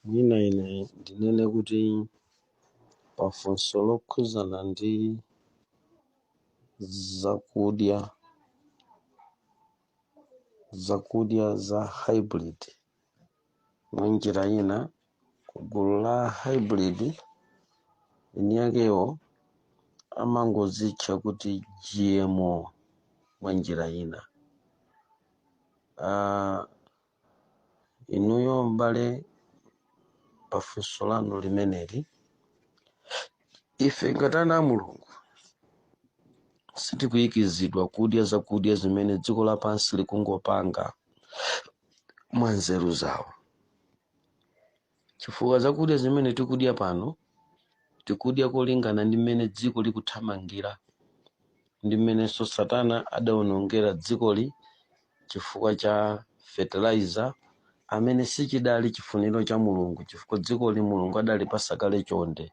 Mwina ine ndinene kuti pafunso lokhuzana ndi zakudya zakudya za hybrid mwa njira ina ku gulu la hybrid eni yakewo amangozitcha kuti GMO mwa njira ina. Ah, Inuyo m'bale pa funso lanu limeneli, ife ngati ana a Mulungu sitikuyikizidwa kudya zakudya zimene dziko lapansi likungopanga mwa nzeru zawo. chifukwa zakudya zimene tikudya pano tikudya kolingana ndi mmene dziko likuthamangira ndi mmenenso satana adaonongera dzikoli chifukwa cha fertilizer amene sichidali chifuniro cha mulungu chifukwa dzikoli mulungu adalipasa kale chonde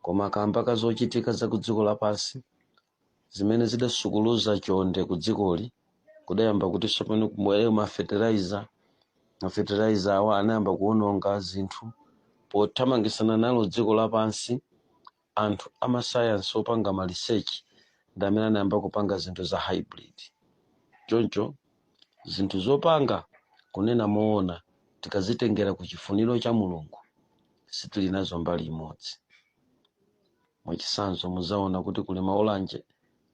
koma kamba ka zochitika za ku dziko lapansi zimene zidasukuluza chonde ku dzikoli kudayamba kuti tsopano kubwere mafertilizer mafertilizer awa anayamba kuononga zinthu pothamangisana nalo dziko lapansi anthu amasayansi opanga ma research ndi amene anayamba kupanga zinthu za hybrid choncho zinthu zopanga kunena moona tikazitengera ku chifuniro cha mulungu sitili nazo mbali imodzi Mwachitsanzo, mudzaona kuti kuli maolanje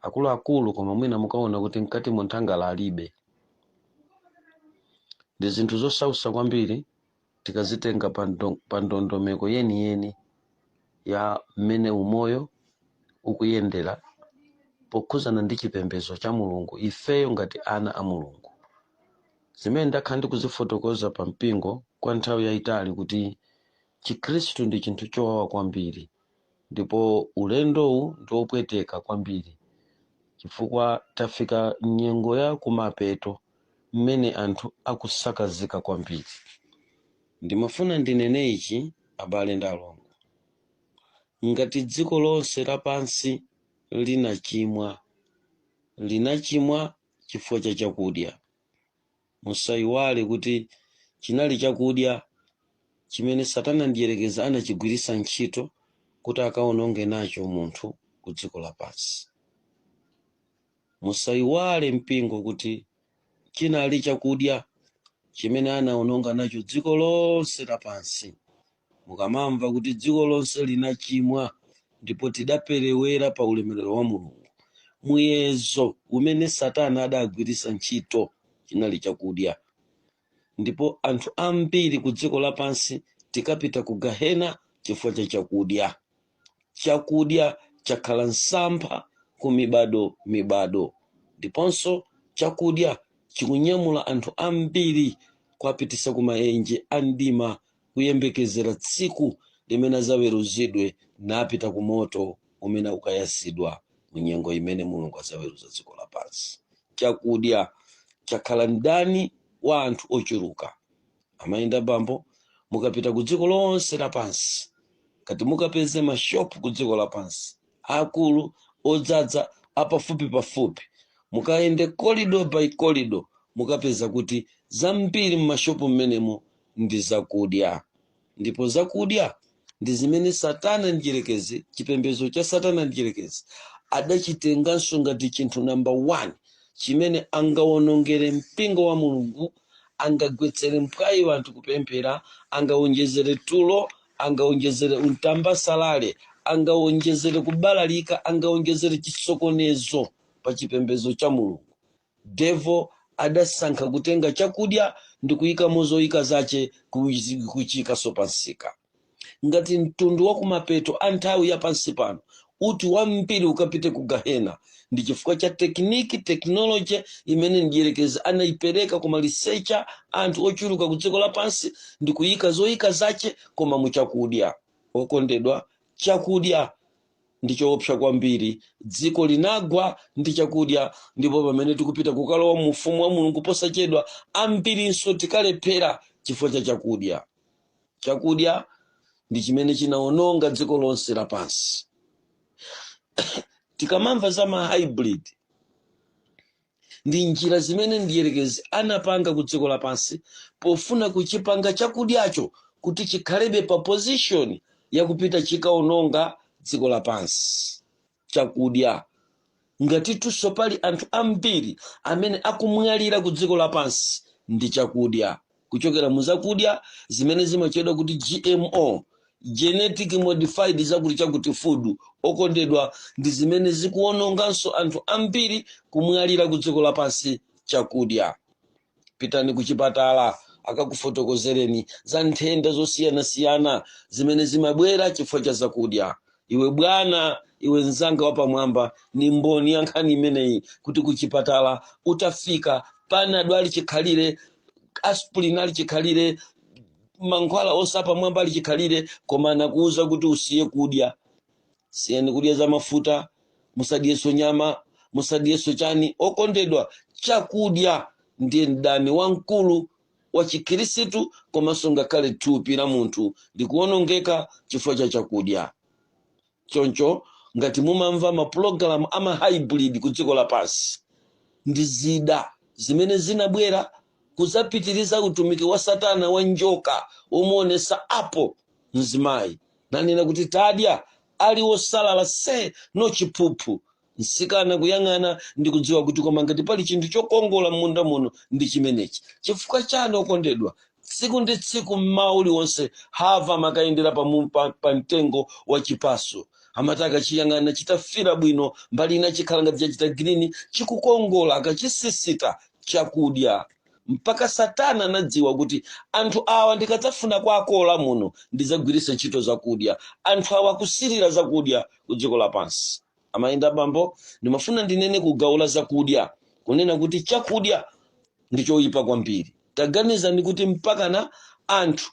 akuluakulu koma mwina mukaona kuti mkatimo nthangala alibe. Ndi zinthu zosautsa kwambiri tikazitenga pa ndo- pa ndondomeko yeniyeni ya mmene umoyo ukuyendera pokhudzana ndi chipembedzo cha Mulungu, ifeyo ngati ana a Mulungu. Zimene ndakhala ndikuzifotokoza pa mpingo kwa nthawi yayitali kuti Chikhristu ndi chinthu chowawa kwambiri. ndipo ulendowu ndi wopweteka kwambiri chifukwa tafika m'nyengo ya kumapeto mmene anthu akusakazika kwambiri. Ndimafuna ndinene ichi abale ndi alongo, ngati dziko lonse lapansi linachimwa, linachimwa chifukwa cha chakudya. Musaiwale kuti chinali chakudya chimene Satana Mdyerekezi anachigwiritsa ntchito kuti akawononge nacho munthu kudziko lapansi. Musaiwale mpingo kuti chinali chakudya chimene anawononga nacho dziko lonse lapansi. mukamamva kuti dziko lonse linachimwa ndipo tidaperewera pa ulemerero wa mulungu muyezo umene satani adagwiritsa ntchito chinali chakudya ndipo anthu ambiri ku dziko lapansi tikapita ku gahena chifukwa cha chakudya chakudya chakhala msampha ku mibado mibado ndiponso chakudya chikunyamula anthu ambiri kuwapitisa ku maenje a mdima kuyembekezera tsiku limene adzaweruzidwe napita ku moto umene ukayasidwa mu nyengo imene mulungu adzaweruza dziko lapansi chakudya chakhala mdani wa anthu ochuluka amayenda bambo mukapita ku dziko lonse lapansi ngati mukapeze mashopu ku dziko lapansi akulu odzadza apafupi pafupi mukayende kolido by kolido mukapeza kuti zambiri mmashopu mmenemo ndi zakudya ndipo zakudya ndi zimene satani mdyerekezi chipembedzo cha satani mdyerekezi adachitenganso ngati chinthu namba 1 chimene angawonongere mpingo wa mulungu angagwetsere mphwayi anthu kupemphera angawonjezere tulo angawonjezere untambasalale angawonjezere kubalalika angawonjezere chisokonezo pa chipembedzo cha mulungu Devil adasankha kutenga chakudya ndikuyikamo zoyika zache kuchiyikanso pa msika. Ngati mtundu wa kumapeto a nthawi ya pansi pano woti wambiri ukapite ku Gahena, ndi chifukwa cha tekiniki, technology, imene mdyerekezi anayipereka kumalizitsa anthu ochuluka ku dziko lapansi ndikuyika zoyika zache koma mu chakudya. Okondedwa, chakudya ndi choopsa kwambiri. Dziko linagwa ndi chakudya, ndipo pamene tikupita kukalowa mu ufumu wa Mulungu posachedwa, ambirinso tikalephera chifukwa cha chakudya. Chakudya ndi chimene chinawononga dziko lonse lapansi. Tikamamva za ma hybrid ndi njira zimene mdierekezi anapanga ku dziko lapansi pofuna kuchipanga chakudyacho kuti chikhalebe pa position yakupita chikaononga dziko lapansi chakudya ngatitunso pali anthu ambiri amene akumwalira ku dziko lapansi ndi chakudya kuchokera mu zakudya zimene zimatchedwa kuti gmo genetic modified zakuti chakuti food okondedwa ndi zimene zikuwononganso anthu ambiri kumwalira ku dziko lapansi chakudya pitani ku chipatala akakufotokozereni za nthenda zosiyanasiyana zimene zimabwera chifukwa cha zakudya iwe bwana iwe mzanga wapamwamba ni mboni ya nkhani imeneyi kuti kuchipatala utafika panado ali chikhalire aspirin ali chikhalire mankhwala onse apamwamba ali chikhalire koma anakuwuza kuti usiye kudya siyani kudya za mafuta musadyenso nyama musadyenso chani okondedwa chakudya ndiye mdani wamkulu wa Chikhirisitu komanso ngakhale thupi la munthu likuwonongeka chifukwa cha chakudya. Choncho ngati mumamva mapulogalamu a mahaibridi ku dziko lapansi, ndi zida zimene zinabwera kudzapitiriza utumiki wa Satana wa njoka yomuonetsa apo mzimayi nanena kuti tadya ali wosalala se no chiphuphu msikana kuyang'ana ndi kudziwa kuti koma ngati pali chinthu chokongola m'munda muno ndi chimenechi chifukwa chani okondedwa tsiku ndi tsiku mmawa uliwonse Hava amakayendera pa, mu- pa, pa mtengo wa chipaso amati akachiyang'ana chitafira bwino mbali ina chikhala ngati chachita girini chikukongola akachisisita chakudya mpaka satana anadziwa kuti anthu awa ndikadzafuna kuwakola muno ndidzagwiritsa ntchito zakudya anthu awa akusirira zakudya ku dziko lapansi amayi ndi abambo ndimafuna ndinene ku gawo la zakudya kunena kuti chakudya ndi choyipa kwambiri taganizani kuti mpakana anthu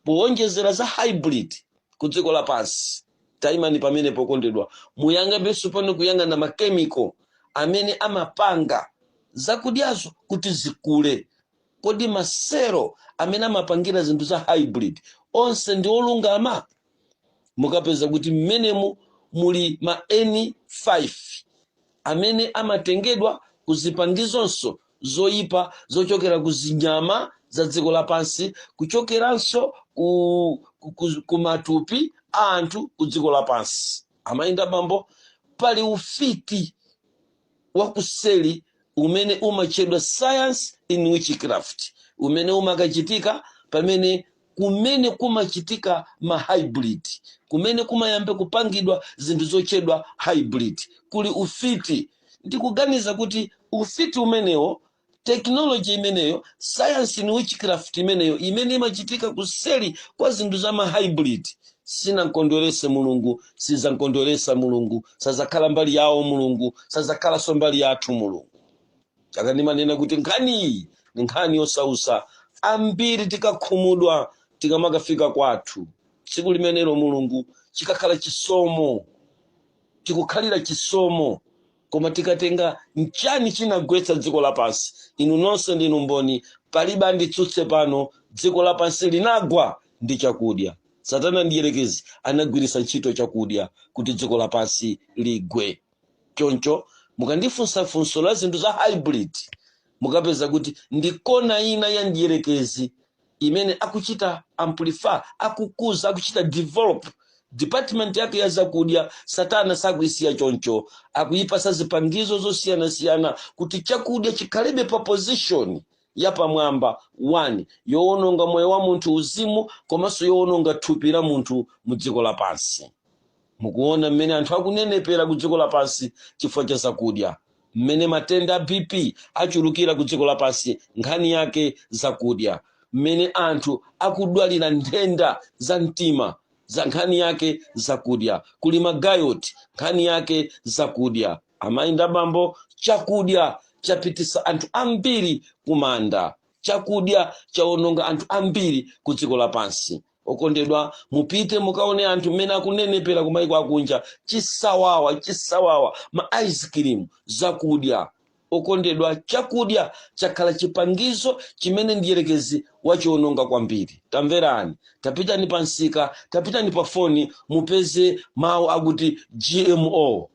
powonjezera za hybrid ku dziko lapansi tayimani pamenepo okondedwa muyang'anenso pano kuyang'ana makemiko amene amapanga zakudyazo kuti zikule kodi maselo amene amapangira zinthu za hybrid onse ndi olungama mukapeza kuti mmenemo muli ma n5 amene amatengedwa ku zipangizonso zoyipa zochokera ku zinyama za dziko lapansi kuchokeranso ku, ku, ku, ku matupi a anthu ku dziko lapansi amayi ndi abambo pali ufiti wakuseli umene umatchedwa science in witchcraft umene umakachitika pamene kumene kumachitika ma hybrid kumene kumayamba kupangidwa zinthu zotchedwa hybrid kuli ufiti ndikuganiza kuti ufiti umenewo tekinoloji imeneyo sayansi in witchcraft imeneyo imene imachitika kuseli kwa zinthu za mahybrid sinamkondwerese mulungu sizamkondweresa mulungu sazakhala mbali yawo mulungu sazakhalanso mbali yathu mulungu n'chaka ndimanena kuti nkhani iyi ni nkhani yosausa ambiri tikakhumudwa tikamakafika kwathu tsiku limenelo mulungu chikakhala chisomo tikukhalira chisomo koma tikatenga nchani chinagwetsa dziko lapansi inu nonse ndinu mboni palibe anditsutse pano dziko lapansi linagwa ndi chakudya satana mdierekezi anagwiritsa ntchito chakudya kuti dziko lapansi ligwe choncho mukandifunsa funso la zinthu za hybrid mukapeza kuti ndi kona ina ya mdierekezi imene akuchita amplify, akukuza, akuchita develop department yake ya zakudya. Satana sakuisiya choncho, akuyipasa zipangizo zosiyanasiyana kuti chakudya chikhalebe pa position yapamwamba 1 yowononga moyo wa munthu muuzimu komanso yowononga thupi la munthu mu dziko lapansi. Mukuona mmene anthu akunenepera ku dziko lapansi chifukwa cha zakudya. Mmene matenda a BP achulukira ku dziko lapansi, nkhani yake zakudya. Mmene anthu akudwalira nthenda za mtima, za nkhani yake zakudya. Kuli ma gout, nkhani yake zakudya. Amayi ndi abambo, chakudya chapitisa anthu ambiri ku manda. Chakudya chawononga anthu ambiri ku dziko lapansi. okondedwa mupite mukaone anthu mmene akunenepera ku maiko akunja chisawawa chisawawa ma ice cream zakudya okondedwa chakudya chakhala chipangizo chimene mdierekezi wachiononga kwambiri tamverani tapitani pa msika tapitani pa foni mupeze mawu akuti gmo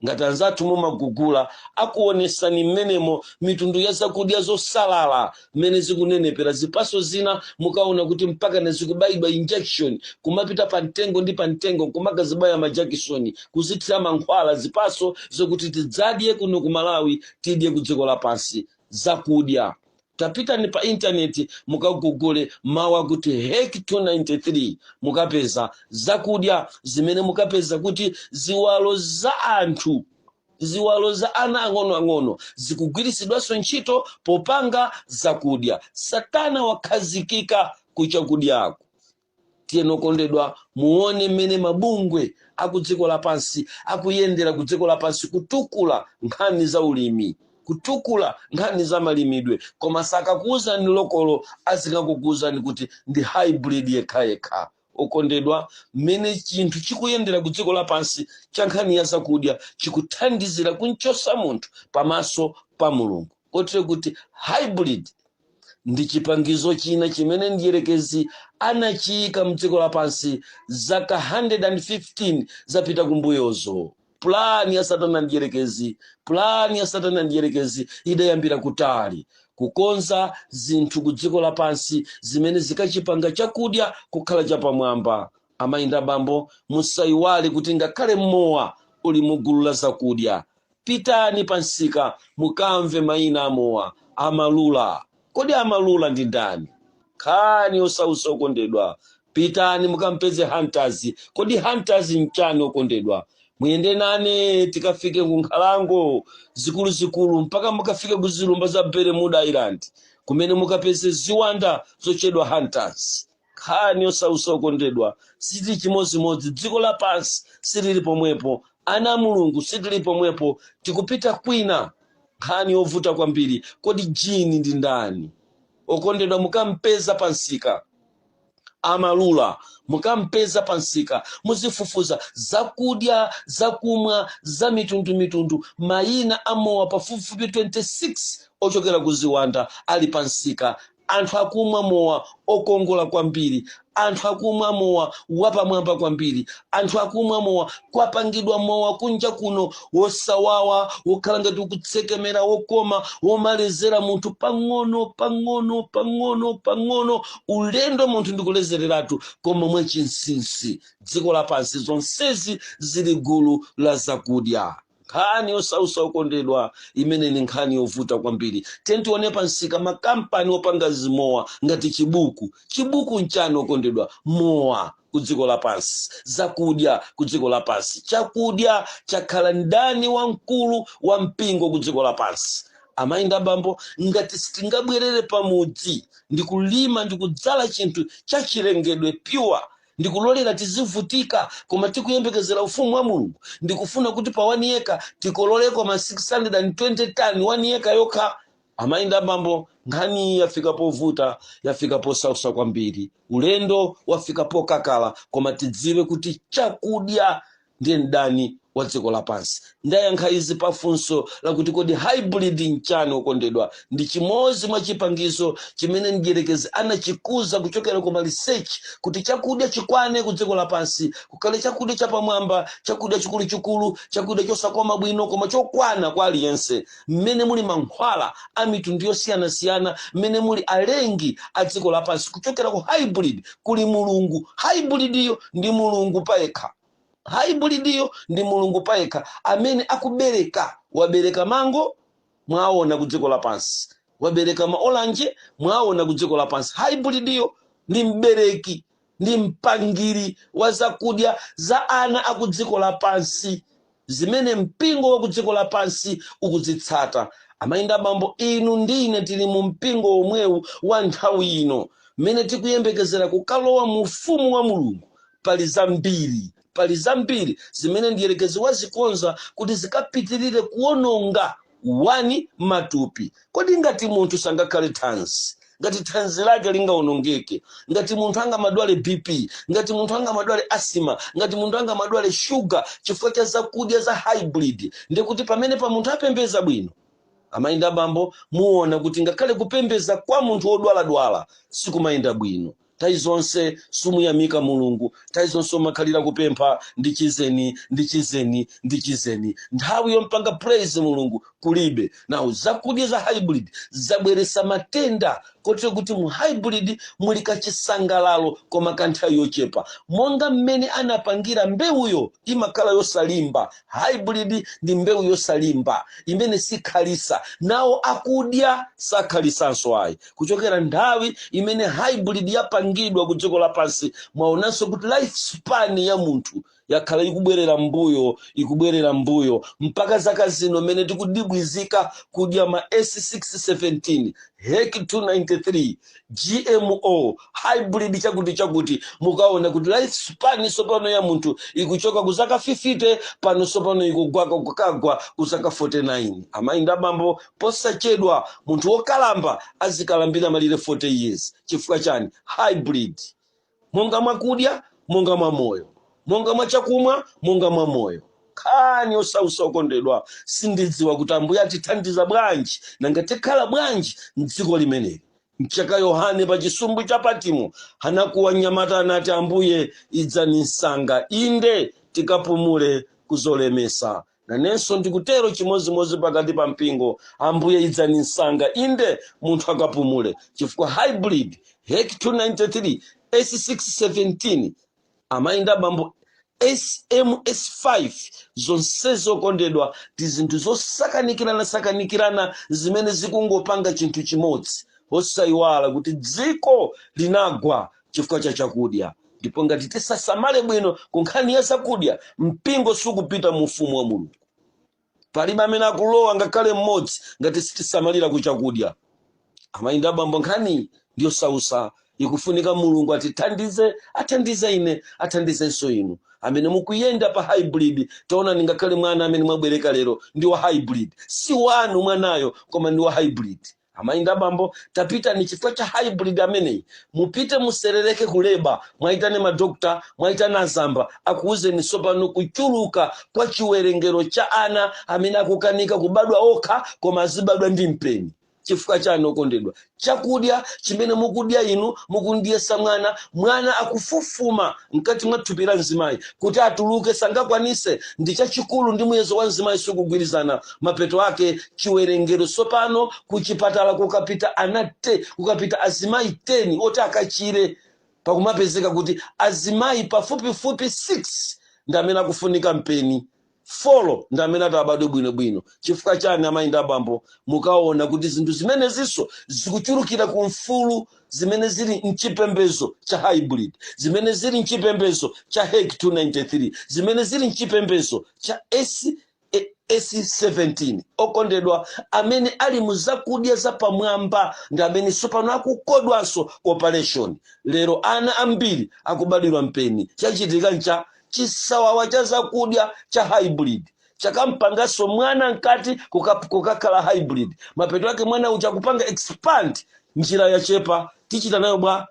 Ngati anzathu mumagugula akuonesani mmenemo mitundu ya zakudya zosalala mmene zikunenepera, zipaso zina mukaona kuti mpakana zikubayidwa injection, kumapita pa mtengo ndi pa mtengo nkumakazibaya ma jakisoni, kuzithira mankhwala zipaso zokuti tidzadye kuno ku Malawi tidye ku dziko lapansi. Zakudya Tapitani pa intaneti mukagugule mawu akuti HEK 293 mukapeza zakudya zimene mukapeza kuti ziwalo za anthu ziwalo za ana ang'onoang'ono zikugwiritsidwanso ntchito popanga zakudya. Satana wakhazikika ku chakudyaku. tiyeni okondedwa muone mmene mabungwe akudziko lapansi akuyendera kudziko lapansi kutukula nkhani za ulimi kutukula nkhani za malimidwe koma sakakuwuzani lokolo azingokuwuzani kuti ndi hybrid yekhayekha okondedwa mmene chinthu chikuyendera kudziko lapansi cha nkhani ya zakudya chikuthandizira kunchosa munthu pamaso pa mulungu kotero kuti hybrid ndi chipangizo china chimene mdierekezi anachiyika mdziko lapansi zaka 115 zapita kumbuyozo pulani ya satana mdierekezi pulani ya satana mdierekezi idayambira kutali kukonza zinthu ku dziko lapansi zimene zikachipanga chakudya kukhala chapamwamba amayi ndi abambo musayiwale kuti ngakhale mowa uli mugulu la zakudya Pitani pa msika mukamve maina a mowa Amarula. Kodi Amarula ndi ndani? Nkhani yosautsa okondedwa. Pitani mukampeze Hunters. Kodi Hunters n'chani okondedwa? Muyende nane tikafike ku nkhalango zikuluzikulu mpaka mukafike ku zilumba za Bermuda Island kumene mukapeze ziwanda zotchedwa Hunters. nkhani yosausa okondedwa sitili chimodzimodzi dziko lapansi silili pomwepo ana a mulungu sitili pomwepo tikupita kwina nkhani yovuta kwambiri kodi gin ndi ndani okondedwa mukampeza pansika amarula mukampeza pansika muzifufuza zakudya zakumwa za mitundumitundu mayina amowa pafupifupi 26 ochokera ku ziwanda ali pansika anthu akumwa mowa okongola kwambiri anthu akumwa mowa wapamwamba kwambiri anthu akumwa mowa kwapangidwa mowa kunja kuno wosawawa wokhala ngati ukutsekemera wokoma womalezera munthu pang'ono pang'ono pang'ono pang'ono ulendo munthu ndikulezereratu koma mwachinsinsi dziko lapansi zonsezi zili gulu la zakudya nkhani yosausa okondedwa imene ni nkhani yovuta kwambiri tiyeni tione pa msika makampani opanga zimowa ngati chibuku chibuku nchani okondedwa mowa ku dziko lapansi zakudya ku dziko lapansi chakudya chakhala mdani wamkulu wa mpingo ku dziko lapansi amayi ndi abambo ngati sitingabwerere pamudzi ndi kulima ndi kudzala chinthu chachilengedwe pure ndikulolera tizivutika koma tikuyembekezera ufumu wa mulungu ndikufuna kuti pa one acre tikololeko ma 620 tani one acre yokha amayi ndi abambo nkhani yafika povuta yafika posausa kwambiri ulendo wafika pokakala koma tidziwe kuti chakudya ndiye mdani wa dziko lapansi. Ndayankha izi pa funso lakuti kodi hybrid nchani okondedwa? Ndi chimodzi mwa chipangizo chimene mdyerekezi anachikuza kuchokera ku ma research kuti chakudya chikwane ku dziko lapansi, kukhale chakudya chapamwamba, chakudya chikuluchikulu, chakudya chosakoma bwino koma chokwana kwa aliyense. mmene muli mankhwala a mitundu yosiyanasiyana mmene muli alengi a dziko lapansi kuchokera ku hybrid kuli mulungu hybridiyo ndi mulungu payekha hybridyo ndi mulungu payekha amene akubereka wabereka mango mwaona ku dziko lapansi wabereka maolanje mwaona ku dziko lapansi hybridyo ndi mbereki ndi mpangidwe wa zakudya za ana akudziko lapansi zimene mpingo wa kudziko lapansi ukuzitsata. Amayi ndi abambo, inu ndi ine tili mu mpingo womwewu wa nthawi ino, mmene tikuyembekezera kukalowa mu ufumu wa Mulungu. Pali zambiri, pali zambiri zimene mdierekezi wazikonza kuti zikapitirire kuwononga matupi kodi ngati munthu sangakhale thanzi ngati thanzi lake lingaonongeke ngati munthu angamadwale bp ngati munthu angamadwale asima ngati munthu angamadwale shuga chifukwa cha zakudya za hybrid ndikuti pamene pa munthu apembeza bwino amayi ndi abambo muona kuti ngakhale kupembeza kwa munthu wodwaladwala sikumayenda bwino nthawi zonse sumuyamika mulungu nthawi zonse umakhalira kupempha ndichizeni ndichizeni ndichizeni nthawi yompanga praise mulungu kulibe nawo zakudya za hybrid zabweresa matenda kotero kuti mu hybrid muli kachisangalalo koma ka nthawi yochepa monga mmene anapangira mbewuyo imakhala yosalimba hybrid ndi mbewu yosalimba imene sikhalisa nawo akudya sakhalisanso ayi kuchokera nthawi imene hybrid yapangidwa ku dziko lapansi mwaonanso kuti life span ya munthu yakhala ikubwerera mbuyo ikubwerera mbuyo mpaka zaka zino mmene tikudibwizika kudya ma s617 hek 293 gmo hybrid chakuti chakuti mukaona kuti life span sopano ya munthu ikuchoka ku zaka 50 pano sopano ikugwa kukagwa ku zaka 49 amayi ndi abambo Posachedwa munthu wokalamba azikalambira malire 40 years. Chifukwa chani? Hybrid. Monga mwa kudya, monga mwa moyo. Monga mwa chakumwa, monga mwa moyo. Nkhani yosausa okondedwa. Sindidziwa kuti Ambuye atithandiza bwanji, nanga tikhala bwanji m'dziko limeneli. N'chaka Yohane pa chisumbu cha Patimo anakuwa mnyamata anati Ambuye idzani msanga. Inde tikapumule kuzolemesa Nanenso ndikutero chimodzimodzi pakati pa mpingo. Ambuye idzani msanga, inde munthu akapumule, chifukwa hybrid hek 293 s617 amayi ndi abambo sms5 zonsezi okondedwa ndi zinthu zosakanikirana sakanikirana zimene zikungopanga chinthu chimodzi osayiwala kuti dziko linagwa chifukwa cha chakudya ndipo ngati tisasamale bwino ku nkhani ya zakudya mpingo sukupita mu ufumu wa mulungu palibe amene akulowa ngakhale mmodzi ngati sitisamalira ku chakudya amayi ndi abambo nkhani ndi yosausa ikufunika mulungu atithandize athandize ine athandizenso inu amene mukuyenda pa hybrid taonani ngakhale mwana amene mwabereka lero ndi wa hybrid si wanu mwanayo koma ndi wa hybrid amayi ndi abambo tapita ndi chifukwa cha hybrid ameneyi mupite muserereke kuleba mwayitane madokotala mwayitane azamba akuwuzeni tsopano kuchuluka kwa chiwerengero cha ana amene akukanika kubadwa okha koma azibadwa ndi mpeni chifukwa chani okondedwa chakudya chimene mukudya inu mukumudyetsa mwana mwana akufufuma mkati mwa thupi la mzimayi kuti atuluke sangakwanise ndi chachikulu ndi muyezo wa mzimayi sikugwirizana mapeto ake chiwerengero tsopano kuchipatala kukapita ana te kukapita azimayi 10 oti akachire pakumapezeka kuti azimayi pafupifupi 6 ndi amene akufunika mpeni folo ndi amene atabadwe bwinobwino chifukwa chani amayi ndi abambo mukaona kuti zinthu zimenezinso zikuchulukira ku mfulu zimene zili mchipembezo cha hybrid zimene zili mchipembezo cha hek 293 zimene zili mchipembezo cha S17 okondedwa amene ali mu zakudya zapamwamba ndi amene tsopano akukodwanso ku operation lero ana ambiri akubadwira mpeni chachitika ncha chisawawa cha zakudya cha hybrid chakampanganso mwana mkati kuka- kukakhala hybrid mapeto ake mwana uja akupanga expand njira yachepa tichita nayo bwa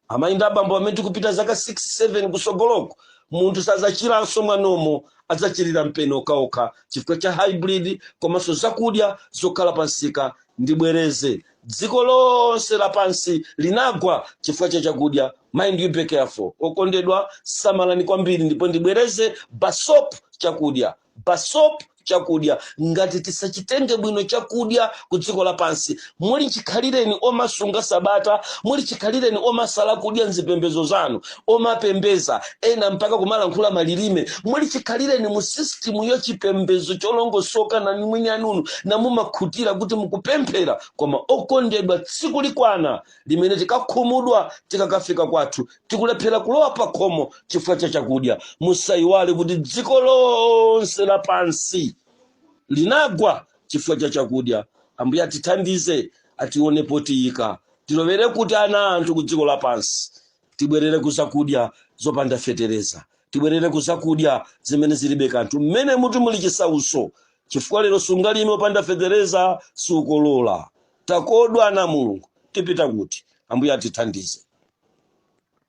Amayi ndi abambo, pamene tikupita zaka 6, 7 kusogoloku, munthu sadzachiranso mwa normal, adzachirira mpeni okhaokha chifukwa cha hybrid komanso zakudya zokhala pa msika ndi bwereze. Dziko lonse lapansi linagwa chifukwa cha chakudya. Mind you be careful. Okondedwa, samalani kwambiri ndipo ndibwereze, basop chakudya. Basop chakudya ngati tisachitenge bwino chakudya ku dziko lapansi muli chikhalireni omasunga sabata muli chikhalireni omasala kudya mzipembezo zanu omapembeza ena mpaka kumalankhula malilime muli chikhalireni mu system ya chipembezo cholongosoka nanu eni anunu namumakhutira kuti mukupemphera koma okondedwa tsiku likwana limene tikakhumudwa tikakafika kwathu tikulephera kulowa pa khomo chifukwa cha chakudya musayiwale kuti dziko lonse lapansi linagwa chifukwa cha chakudya ambuye atithandize atione potiyika tilowere kuti ana anthu ku dziko lapansi tibwerere ku zakudya zopanda fetereza tibwerere ku zakudya zimene zilibe kanthu mmenemu timuli chisauso chifukwa lero sungalime opanda fetereza sukolola takodwa ana a mulungu tipita kuti ambuye atithandize